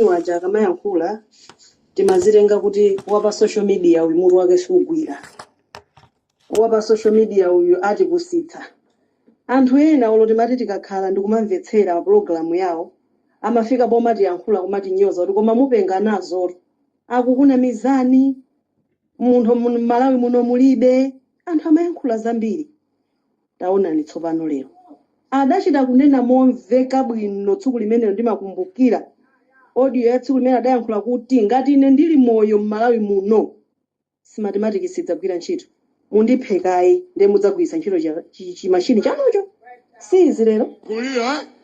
awaja akamayankhula timazitenga kuti wapa social media uyu mutu wake sugwira wapa social media uyu atipusitsa anthu ena olo timati tikakhala ndikumamvetsera pulogalamu yawo amafika pomatiyankhula kumatinyoza kuti koma mupenga nazotu akukunamizani munthu mmalawi muno mulibe anthu amayankhula zambiri Taonani tsopano lero. Adachita kunena momveka bwino tsiku limenelo ndimakumbukira audio ya tsiku limene adayankhula kuti ngati ine ndili moyo m'Malawi muno Smartmatic sidzagwira ntchito. Mundiphe kaye ndiye mudzagwiritse ntchito chimachine chanucho. Si izi lero? Kulira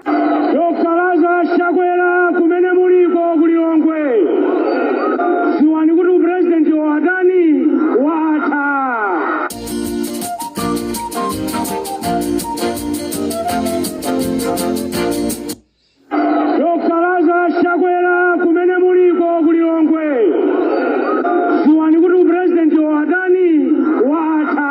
Dr. Lazarus Chakwera kumene muliko ku Lilongwe. Dziwani kuti upresidenti wa a Tani watha. Dr. Lazarus Chakwera kumene muliko ku Lilongwe. Dziwani kuti upresidenti wa adani watha.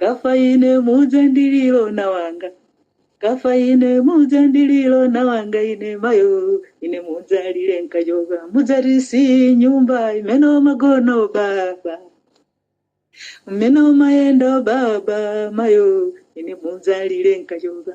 kafa ine mudzandililo na wanga kafa ine mudzandililo na wanga ine mayo ine mudzalile nkajoka mudzati si nyumba imene magona baba mmene mumayenda baba mayo ine mudzalile nkajoka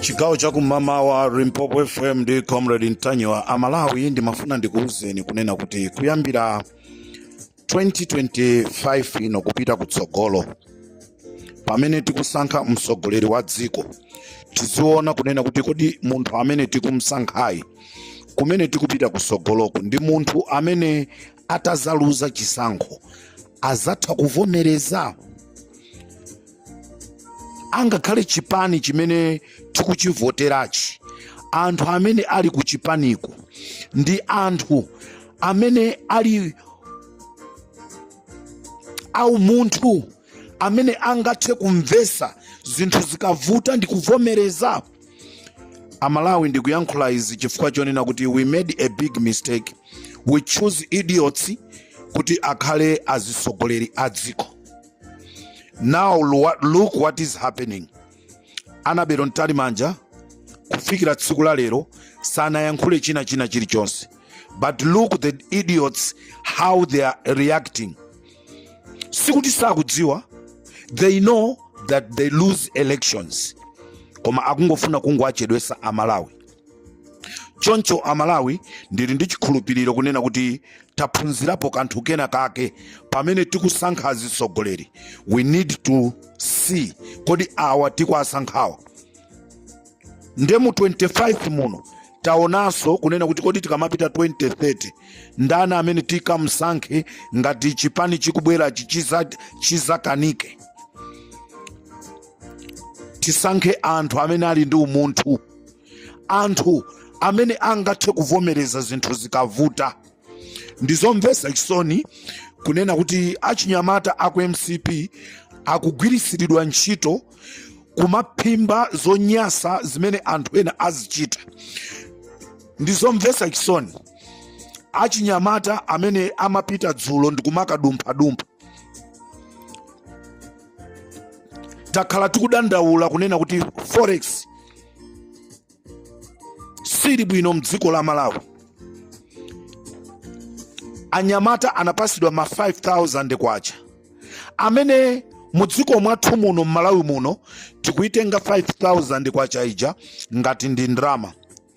chigawo cha kummawa limpopo fm ndi comrade ntanyiwa amalawi ndimafuna ndikuwuzeni kunena kuti kuyambira 2025 ino kupita kutsogolo pamene tikusankha mtsogoleri wa dziko tiziona kunena kuti kodi munthu amene tikumsankhayu kumene tikupita kutsogoloku ndi munthu amene atazaluza chisankho azatha kuvomereza angakhale chipani chimene tikuchivoterachi anthu amene ali ku chipaniko ndi anthu amene ali aumunthu amene angathe kumvesa zinthu zikavuta ndi kuvomereza amalawi ndikuyankhula izi chifukwa chonena kuti we made a big mistake we choose idiots kuti akhale azisogoleri a dziko now look what is happening annabel mtalimanja kufikira tsiku la lero sanayankhule china china chilichonse but look the idiots how they are reacting sikuti sakudziwa they know that they lose elections koma akungofuna kungowachedwesa amalawi choncho amalawi ndili ndi chikhulupiriro kunena kuti taphunzirapo kanthu kena kake pamene tikusankha azitsogoleri we need to see kodi awa tikuwasankhawa nde mu 25 muno taonanso kunena kuti kodi tikamapita 2030 ndani amene tikamsankhe ngati chipani chikubwerachi chizakanike tisankhe anthu amene ali ndi umunthu anthu amene angathe kuvomereza zinthu zikavuta ndizomvesa chisoni kunena kuti achinyamata aku mcp akugwiritsiridwa ntchito kumaphimba zonyasa zimene anthu ena azichita ndizomvesa chisoni achinyamata amene amapita dzulo ndikumakadumphadumpa takhala tikudandaula kunena kuti forex sili bwino mdziko la malawi anyamata anapasidwa ma 5000 kwacha amene mudziko mwathu muno mmalawi muno tikuitenga 5000 kwacha ija ngati ndi ndrama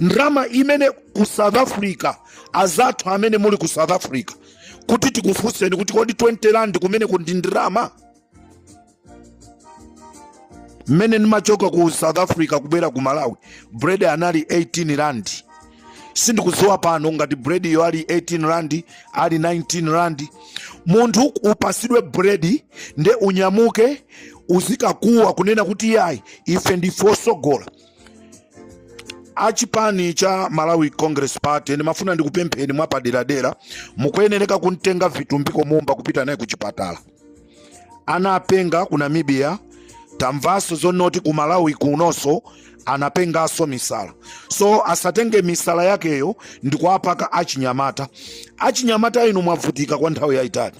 ndrama imene ku south africa azathu amene muli ku south africa kuti tikufunseni kuti kodi 20 rand kumeneko ndi ndrama mmene ndimachoka ku south africa kubwera ku malawi bread anali 18 rand sindikudziwa pano ngati bread yo ali 18 rand ali 19 rand munthu upasidwe bread nde unyamuke uzikakuwa kunena kuti yayi ife ndife osogola a chipani cha malawi congress party ndimafuna ndikupempheni mwapaderadera mukuyenereka kumtenga vitumbiko mumba kupita naye ku chipatala anapenga ku namibia tamvanso zonoti ku malawi kunonso anapenganso misala so asatenge misala yakeyo ndikuwapaka achinyamata achinyamata inu mwavutika kwa nthawi yayitali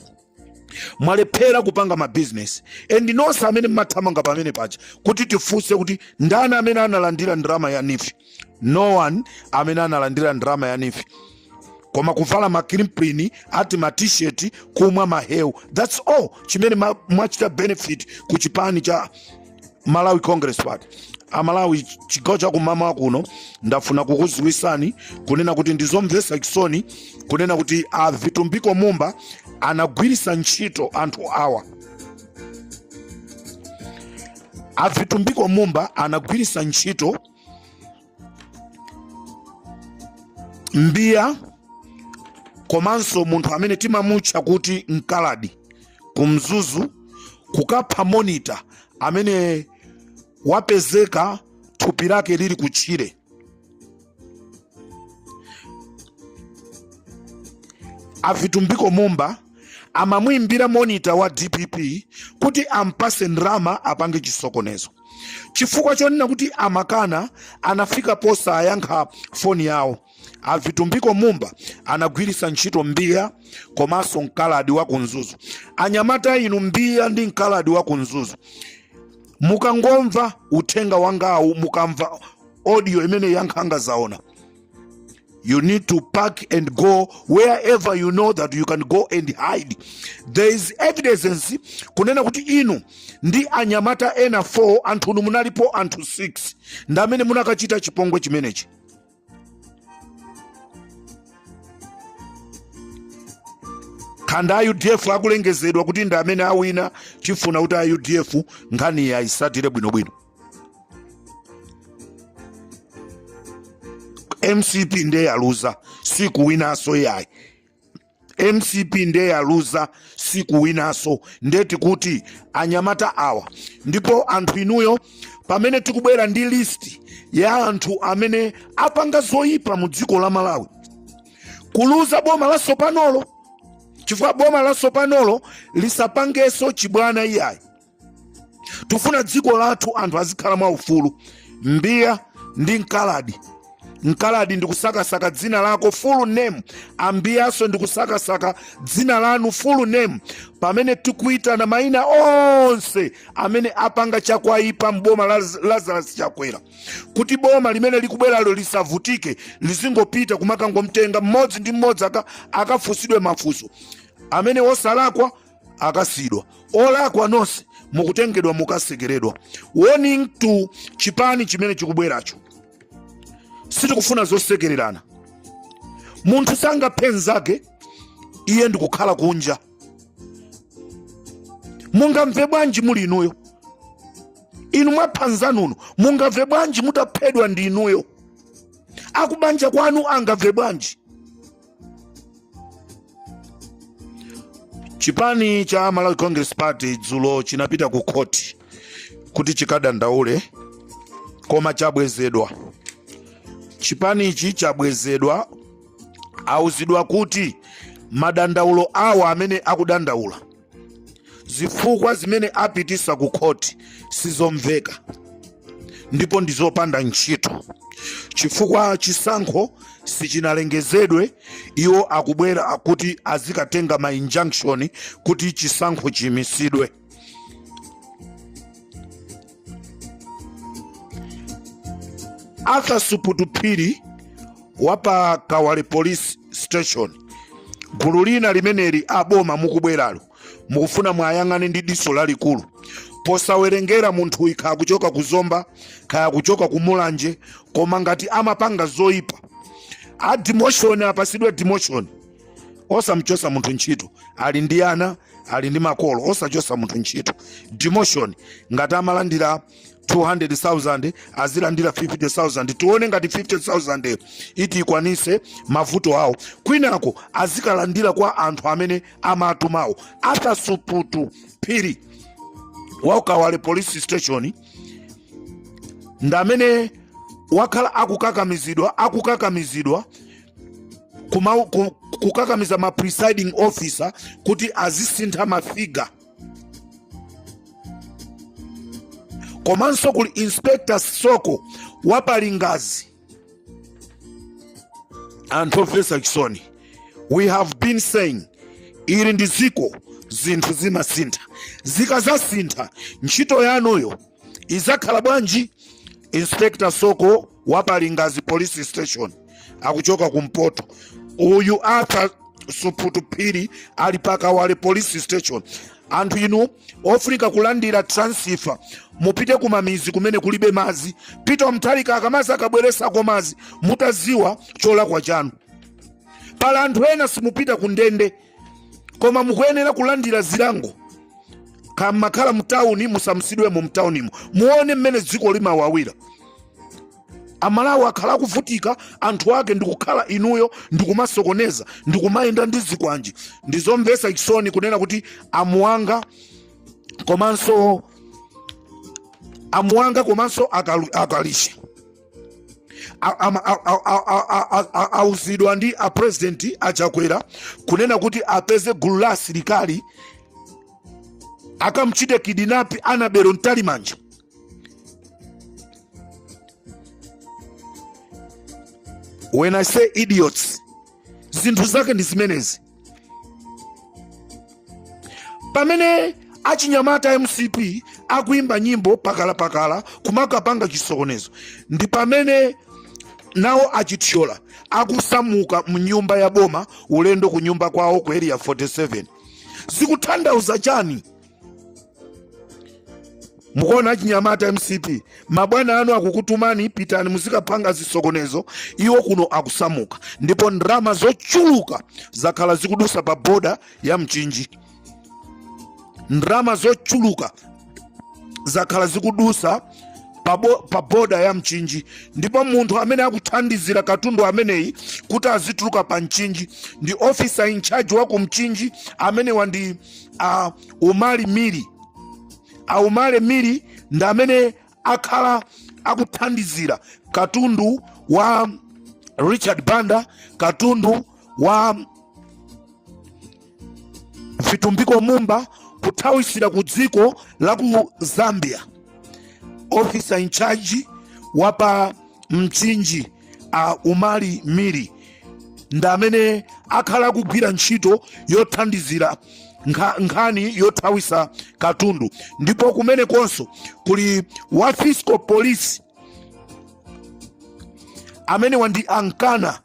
mwalephera kupanga mabizinesi and nonse amene mmathamanga pamene paja kuti tifunse kuti ndani amene analandira ndrama ya neef no one amene analandira ndrama ya neef koma kuvala makrimpini ati matisheti kumwa mahewu thats all chimene mwachita benefit ku chipani cha malawi congress party amalawi chigawo chakumama kuno ndafuna kukuziwisani kunena kuti ndizomvesa chisoni kunena kuti a vitumbiko mumba anagwirisa ntchito anthu awa a vitumbiko mumba anagwirisa ntchito mbiya komanso munthu amene timamutcha kuti mkaladi kumzuzu kukapha monita amene wapezeka thupi lake lili kutchire avitumbiko mumba amamuimbira monita wa dpp kuti ampase ndrama apange chisokonezo chifukwa chonena kuti amakana anafika posayankha foni yawo a Vitumbiko Mumba anagwiritsa ntchito mbiya komanso mkaladi wa ku Mzuzu anyamata inu mbiya ndi mkaladi wa ku Mzuzu mukangomva uthenga wangawu mukamva audio imene ya nkhanga zaona You need to pack and go wherever you know that you can go and hide. There is evidence kunena kuti inu ndi anyamata ena 4 anthu inu munalipo anthu 6 ndi amene munakachita chipongwe chimenechi. khanda a udf akulengezedwa kuti ndi amene awina tifuna kuti a udf nkhani ayisatire bwinobwino mcp ndiye yaluza sikuwinaso yayi mcp ndiye yaluza sikuwinaso ndiye tikufuna kuti anyamata awa ndipo anthu inuyo pamene tikubwera ndi listi ya anthu amene apanga zoyipa mu dziko la malawi kuliuza boma la sopanolo chifukwa boma la sopanolo lisapangeso chibwana iyayi tifuna dziko lathu anthu azikhala mwa ufulu mbiya ndi mkaladi mkaladi ndikusakasaka dzina lako full name a mbiyaso ndikusakasaka dzina lanu full name pamene tikuitana maina onse amene apanga chakwaipa mboma la lazarus chakwera kuti boma limene likubweralo lisavutike lizingopita kumakangomtenga mmodzi ndi mmodzi akafusidwe mafuso amene wosalakwa akasiidwa olakwa nonse mukutengedwa mukasekeredwa warning to chipani chimene chikubweracho sitikufuna zosekererana munthu sangaphe nzake iye ndikukhala kunja mungamve bwanji muli inuyo inu mwapha nzanu no mungamve bwanji mutaphedwa ndi inuyo akubanja kwanu angamve bwanji chipani cha malawi congress party dzulo chinapita ku khoti kuti chikadandaule koma chabwezedwa chipanichi chabwezedwa auzidwa kuti madandaulo awa amene akudandaula zifukwa zimene apitisa ku khoti sizomveka ndipo ndi zopanda ntchito chifukwa chisankho sichinalengezedwe iwo akubwera kuti azikatenga ma injunction kuti chisankho chiyimisidwe arthur suputu phiri wa pa kawale police station gulu lina limeneli aboma mukubweralo mukufuna muwayang'ane ndi diso lalikulu posawerengera munthu kaya akuchoka ku zomba kaya akuchoka ku mulanje koma ngati amapanga zoyipa a demotion apasidwe demotion osamchosa munthu ntchito ali ndi ana ali ndi makolo osachosa munthu ntchito demotion ngati amalandira 200,000 azilandira 50,000 tione ngati 50,000 iti ikwanise mavuto awo kwinako azikalandira kwa anthu amene amatumawo arthur suputu phiri wa ku kawale police station ndamene wakhala akukakamizidwa akukakamizidwa kukakamiza ma presiding officer kuti azisintha mafiga komanso kuli inspector soko wa pa lingadzi anthu omvesa chisoni we have been saying ili ndi dziko zinthu zimasintha zikazasintha ntchito yanuyo izakhala bwanji inspector soko wa pa lingadzi police station akuchoka kumpoto uyu arthur suputu phiri ali pakawale police station anthu inu ofunika kulandira transfer mupite kumamizi kumene kulibe mazi pita mtalika akamazi akabweresako mazi mutaziwa cholakwa chanu pala anthu ena simupita kundende koma mukuyenera kulandira zilango ngati mumakhala mtawuni musamusidwemo mtawunimo muone mmene dziko limawawira amalawi akhala akuvutika anthu ake ndikukhala inuyo ndikumasokoneza ndikumayenda ndi zikwanje ndizomvesa chisoni kunena kuti amuhanga komanso amuhanga komanso akalu- akalisha auzidwa ndi apresidenti achakwera kunena kuti apeze gulu la asilikali akamchite kidnap annabel mtalimanja when i say idiots zinthu zake ndi zimenezi pamene achinyamata mcp akuimba nyimbo pakalapakala kumakapanga chisokonezo ndi pamene nawo achithyola akusamuka mnyumba ya boma ulendo ku nyumba kwawo ku area 47 zikutanthauza chani mukuona achinyamata a mcp mabwana anu akukutumani pitani muzikapanga zisokonezo iwo kuno akusamuka ndipo ndalama zochuluka zakhala zikudusa pa boda ya mchinji ndalama zochuluka zakhala zikudusa pa bo- pa boda ya mchinji ndipo munthu amene akuthandizira katundu ameneyi kuti azituluka pa mchinji ndi officer in charge wa ku mchinji amenewa ndi umali miri a umali miri ndi amene akhala akuthandizira katundu wa richard banda katundu wa vitumbiko mumba kuthawisira ku dziko la ku zambia officer in charge wa pa mchinji a umali miri ndi amene akhala akugwira ntchito yothandizira nkha- nkhani yothawisa katundu ndipo kumenekonso kuli wa fiscal police amenewa ndi a nkana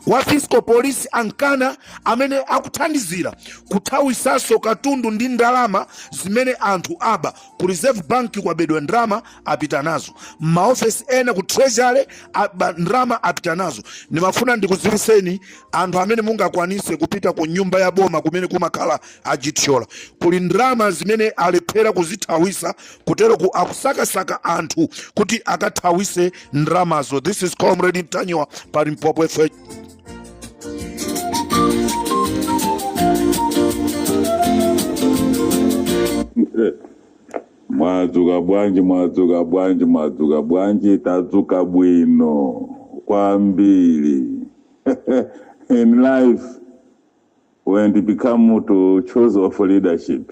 wa fiscal police a nkana amene akuthandizira kuthawisanso katundu ndi ndalama zimene anthu aba ku reserve bank kwabedwa ndalama apita nazo mmaofesi ena ku treasury aba ndalama apita nazo ndimafuna ndikudziwiseni anthu amene mungakwanise kupita ku nyumba ya boma kumene kumakhala a chithyola kuli ndalama zimene alephera kuzithawisa kuteroku akusakasaka anthu kuti akathawise ndramazo this is comrade ntanyiwa pa limpopo fm mwadzuka bwanji mwadzuka bwanji mwadzuka bwanji tadzuka bwino kwambiri in life when it become to choose of leadership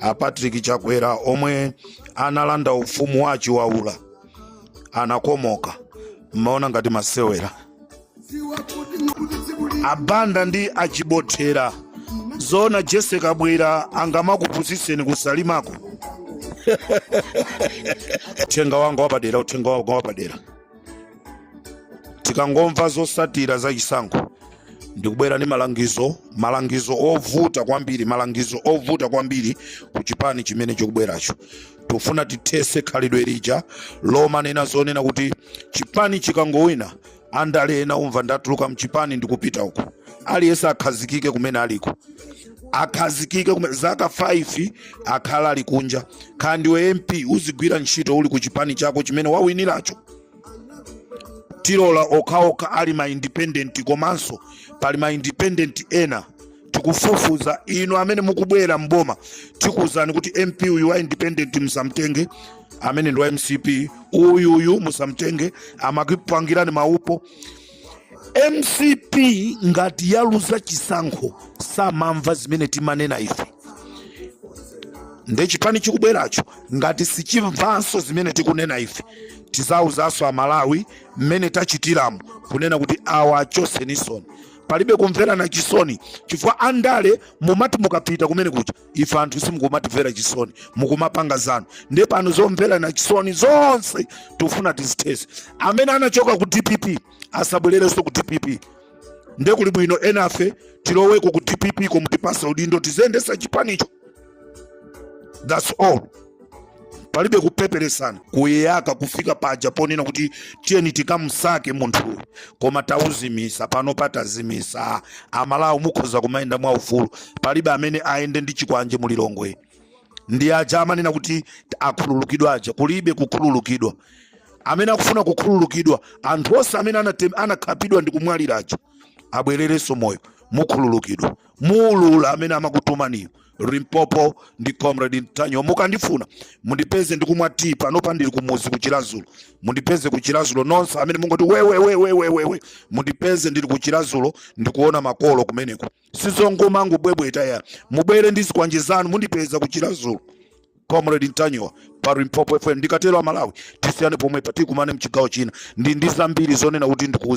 a patrick chakwera omwe analanda ufumu wa a chiwaula anakomoka mmaona ngati masewera a banda ndi a chibothera zoona jessie kabwila angamakupusiseni kusalimako uthenga wanga wapadera uthenga wanga wapadera tikangomva zosatira za chisankho ndikubwera ndi malangizo malangizo ovuta kwambiri malangizo ovuta kwambiri ku chipani chimene chikubweracho tufuna tithese khalidwe lija lomanena zonena kuti chipani chikangowina andale ena umva ndatuluka mchipani ndikupita uko aliyense akhazikike kumene aliko akhazikike zaka 5 akhala ali kunja kaya ndiwe mp uzigwira ntchito uli ku chipani chako chimene wawiniracho tilola okhaokha ali ma independent komanso pali ma independent ena tikufufuza inu amene mukubwera mboma tikuwuzani kuti mp uyu wa independent musamtenge amene ndi wa mcp uyu uyu musamtenge amakupangirani maupo mcp ngati yaluza chisankho samamva zimene timanena ife nde chipani chikubweracho ngati sichimvanso zimene tikunena ife tizawuzanso amalawi mmene tachitiramu kunena kuti awa achosenisoni palibe kumverana chisoni chifukwa andale mumati mukapita kumene kuja ife anthu simukumatimvera chisoni mukumapanga zanu nde pano zomverana chisoni zonse tikufuna tizithese amene anachoka ku dpp asabwererenso ku dpp nde kuli bwino enafe tiloweko ku dpp ko mutipase udindo tiziyendesa chipanicho thats all palibe kupeperesana kuyaka kufika paja ponena kuti tiyeni tikamsake munthuyu koma tauzimisa panopa tazimisa amalawi mukhoza kumayenda mwaufulu palibe amene ayende ndi chikwanje mulilongwe ndi aja amanena kuti akhululukidwa aja kulibe kukhululukidwa amene akufuna kukhululukidwa anthu onse amene anatem- anakhapidwa ndi kumwalira aja abwererenso moyo mukhululukidwa muulula amene amakutumaniyo limpopo ndi comrade ntanyiwa mukandifuna mundipeze ndikumwa tii panopa ndili kumuzi kuchilazulo mundipeze kuchilazulo nonse amene mungoti wewewewewewewe mundipeze ndili kuchilazulo ndikuona makolo kumeneko sizongomangobwebweta ya mubwere ndi zikwanje zanu mundipeza kuchilazulo comrade ntanyiwa pa limpopo fm ndikatero amalawi tisiyane pomwepa tikumane mchigawo china ndili ndi zambiri zonena kuti ndikuuza